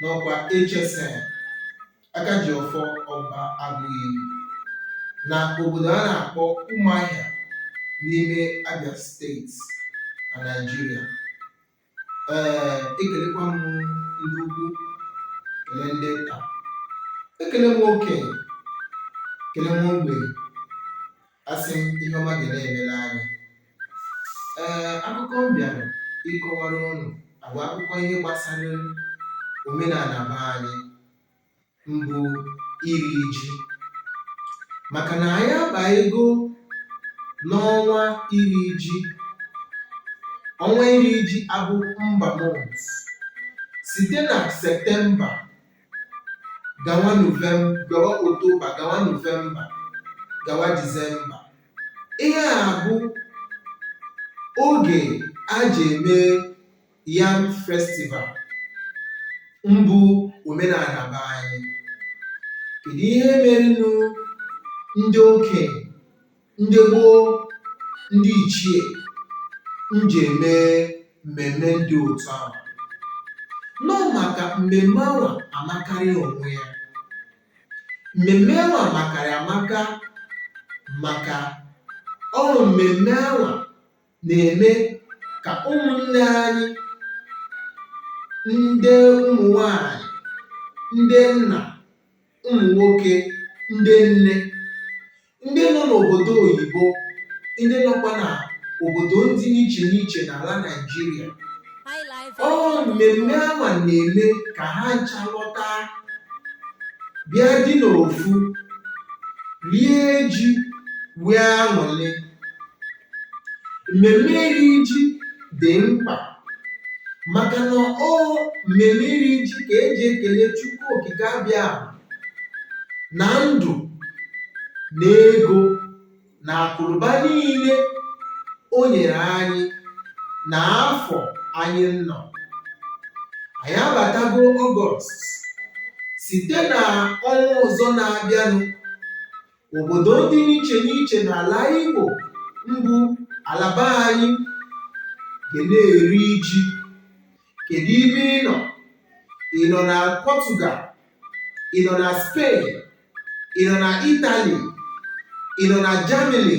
n'ọkwa HSN aka ji ọfọ ọba Agụiyi na obodo a na-akpọ Umuahia n'ime Abia steeti na Naịjirịa ee ekelekwa m ndị ukwu kele ndị nta ekele m okenye kele m ogbenye asị m ihe ọma ga na-emere anyị ee akụkọ m bịara ịkọwara ụnụ bụ akụkọ ihe gbasara omenala be anyị mbụ iri ji maka na anyị abago n'ọnwa iri ji ọnwa iri ji a bụ ember month site na septemba gawa gawa Oktoba gawa Novemba gawa Disemba ihe a bụ oge a ji eme yam festival mbụ omenala be anyị kedu ihe merenụ ndị okenye ndị gboo ndị ichie nji eme mmemme ndị otu ahụ n'ọ maka mmemme ahụ amakarị onwe ya mmemme ahụ amakarị amaka maka ọrụ mmemme ahụ na-eme ka ụmụnne anyị ndị ụmụ nwanyị ndị nna ụmụ nwoke ndị nne ndị nọ n'obodo oyibo ndị nọkwa na obodo ndị n'iche n'iche n'ala Naịjirịa ọ mmemme awa na-eme ka ha ncha lọta bịa dị n'ofu rie ji nwee aṅụrị Mmemme iri ji dị mkpa maka na ọ mmemme iri ji ka e ji ekele Chukwu Okike Abịama na ndụ na ego na akụnụba niile o nyere anyị na afọ anyị nọ. Anyị abatago Ọgọst site na ọnwa ọzọ na-abịanụ obodo ndị n'iche n'iche n'ala Igbo mbụ ala be anyị ga na-eri ji kedu ibe ị nọ ị nọ na Portugal ị nọ na Spain ị nọ na Italy ị nọ na Germany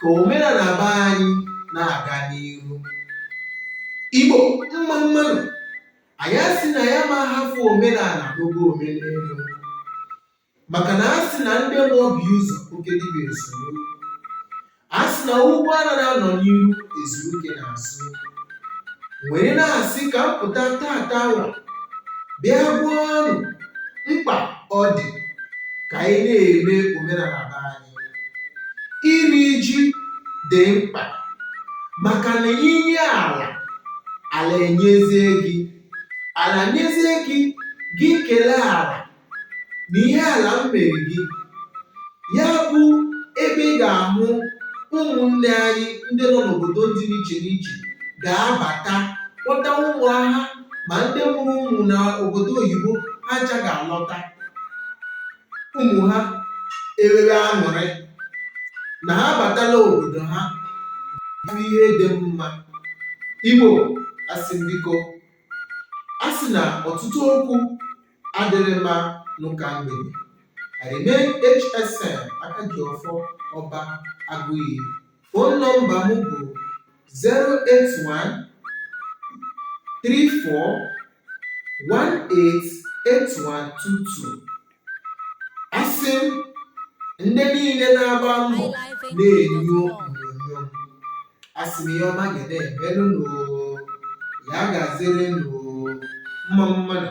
ka omenala be anyị na-aga n'ihu igbo mma mmanụ anyị asị na ya ma hafụ omenala n'oge omenelu maka na a sị na ndị maọbụ ụzọ oke dịbịa esoro a sị na ụgbọ anaghị anọ n'ihu ezuru ike n'azụ wee na-asị ka m pụta tata ụwa bịa gwa ụnụ mkpa ọ dị ka anyị na-eme omenala be anyị iri ji dị mkpa maka na i nye ala ala enyezie gị ala nyezie gị gị kelee ala na ihe ala mere gị ya bụ ebe ị ga-ahụ ụmụnne anyị ndị nọ n'obodo dị n'iche n'iche ga-abata kpọta ụmụaka ma ndị mụrụ ụmụ na obodo oyibo ha ncha ga-alọta ụmụ ha enwere aṅụrị na ha batala obodo ha bụ ihe dị mma igbo asị biko a sị na ọtụtụ okwu adịrị mma n'ụka mgbede I remain HSN Akajiọfọ Ọba Agụiyi phone nọmba m bụ 081 34 188122 asị m ndị niile na-agba mbọ na-enyo onyonyo asị m ihe ọma ga na-emelụ nụ ya gaziere nụ mma mmanụ